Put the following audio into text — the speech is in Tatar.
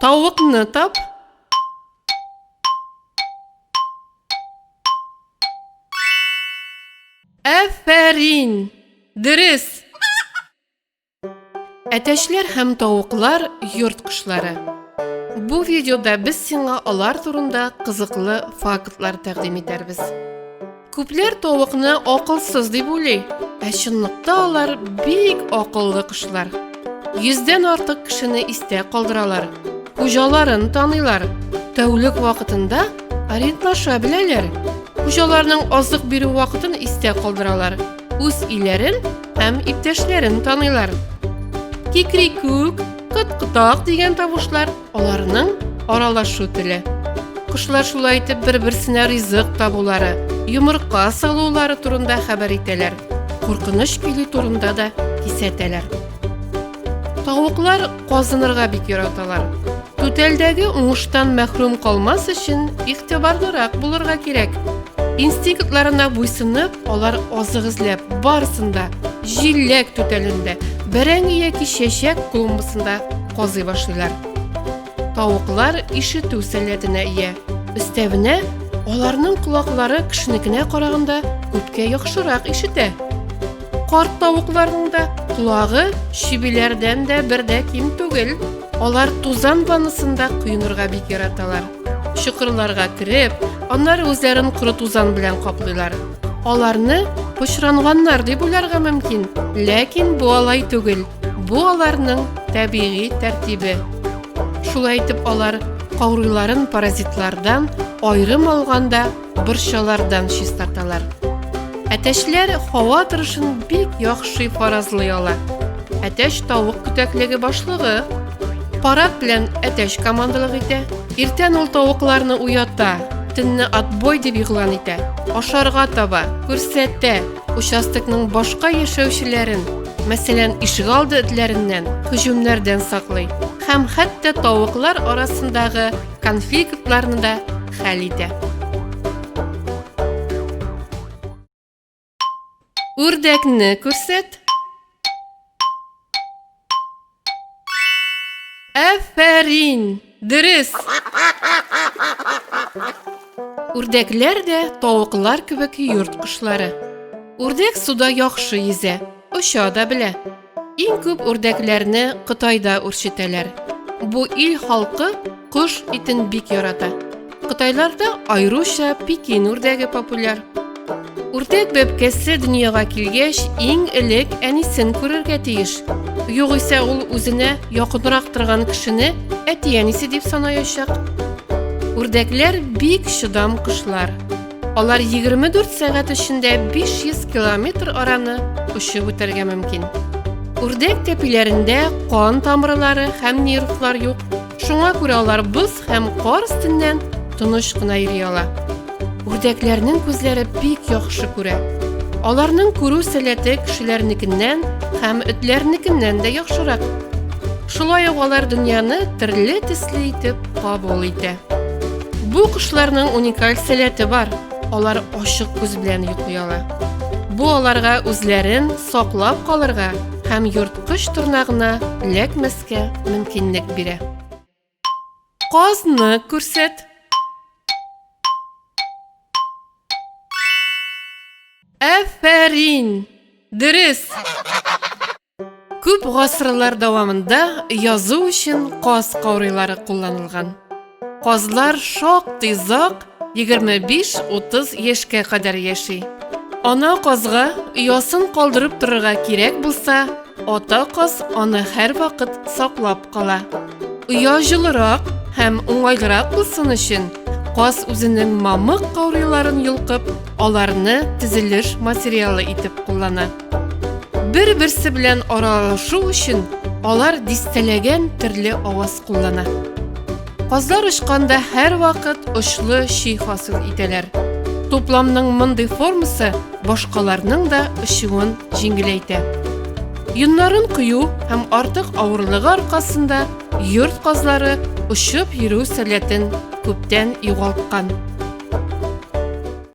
Тавыкны тап. Әфәрин! Дөрес! Әтәчләр һәм тавыклар йорт кошлары. Бу видеода без сиңа алар турында кызыклы фактлар тәкъдим итәрбез. Күпләр тавыкны акылсыз дип уйлый, ә чынлыкта алар бик акыллы кошлар. Йөздән артык кешене истә калдыралар, хуҗаларын таныйлар, тәүлек вакытында ориентлаша беләләр. Хуҗаларның азык бирү вакытын истә калдыралар, үз иләрен һәм иптәшләрен таныйлар. Кикрикүк, кыткытак дигән тавышлар Аларның аралашу теле. Кошлар шулай итеп бер-берсенә ризык табулары, йомырка салулары турында хәбәр итәләр. Куркыныч килү турында да кисәтәләр. Тавыклар казынырга бик яраталар. Түтәлдәге уңыштан мәхрүм калмас өчен игътибарлырак булырга кирәк. Инстинктларына буйсынып, алар азык эзләп, барысын да җиләк түтәлендә, бәрәңге яки чәчәк клумбасында казый башлыйлар. Тавыклар ишетү сәләтенә ия. Өстәвенә, аларның колаклары кешенекенә караганда күпкә яхшырак ишетә. Карт тавыкларның да колагы чебиләрдән дә бер дә ким түгел. Алар тузан ваннасында коенырга бик яраталар. Чокырларга кереп, аннары үзләрен коры тузан белән каплыйлар. Аларны пычранганнар дип уйларга мөмкин, ләкин бу алай түгел. Бу аларның табигый тәртибе. Шулай итеп алар каурыйларын паразитлардан айрым алганда борчалардан чистарталар. Әтәчләр һава торышын бик яхшы фаразлый ала. Әтәч тавык күтәклеге башлыгы парад белән әтәч командалык итә. Иртән ул тавыкларны уята, төнне отбой дип игълан итә. Ашарга таба, күрсәтә, участокның башка яшәүчеләрен, мәсәлән, ишегалды этләреннән, һөҗүмнәрдән саклый һәм хәтта тавыклар арасындагы конфликтларны да хәл итә. Үрдәкне күрсәт. Әфәрин! Дөрес! Үрдәкләр дә тавыклар кебек йорт кошлары. Үрдәк суда яхшы йөзә, оча да белә. Иң күп үрдәкләрне Кытайда үрчетәләр. Бу ил халкы кош итен бик ярата. Кытайларда айруча Пекин үрдәге популяр. Үрдәк бәбкәсе дөньяга килгәч, иң элек әнисен күрергә тиеш. Югыйсә ул үзенә якынрак торган кешене әти-әнисе дип санаячак. Үрдәкләр бик чыдам кошлар. Алар 24 сәгать эчендә 500 километр араны очып үтәргә мөмкин. Үрдәк тәпиләрендә кан тамырлары һәм нервлар юк. Шуңа күрә алар боз һәм кар өстеннән тыныч кына йөри ала. Үрдәкләрнең күзләре бик яхшы күрә. Аларның күрү сәләте кешеләрнекеннән һәм этләрнекеннән дә яхшырак. Шулай ук алар дөньяны төрле төсле итеп кабул итә. Бу кошларның уникаль сәләте бар. Алар ачык күз белән йоклый ала. Бу аларга үзләрен саклап калырга һәм йорткыч торнагына эләкмәскә мөмкинлек бирә. Казны күрсәт. Афәрин! Дөрес! Күп гасырлар дәвамында язу өчен каз каурыйлары кулланылган. Казлар шактый зак 25-30 яшькә кадәр яши. Ана казга оясын калдырып торырга кирәк булса, ата каз аны һәрвакыт саклап кала. Оя җылырак һәм уңайлырак булсын өчен, каз үзенең мамык каурыйларын йолкып, аларны төзелеш материалы итеп куллана. Бер-берсе белән аралашу өчен алар дистәләгән төрле аваз куллана. Казлар очканда һәрвакыт очлы чи хасил итәләр. Тупламның мондый формасы башкаларның да очуын җиңеләйтә. Юннарын кую һәм артык авырлыгы аркасында йорт казлары очып йөрү сәләтен күптән югалткан.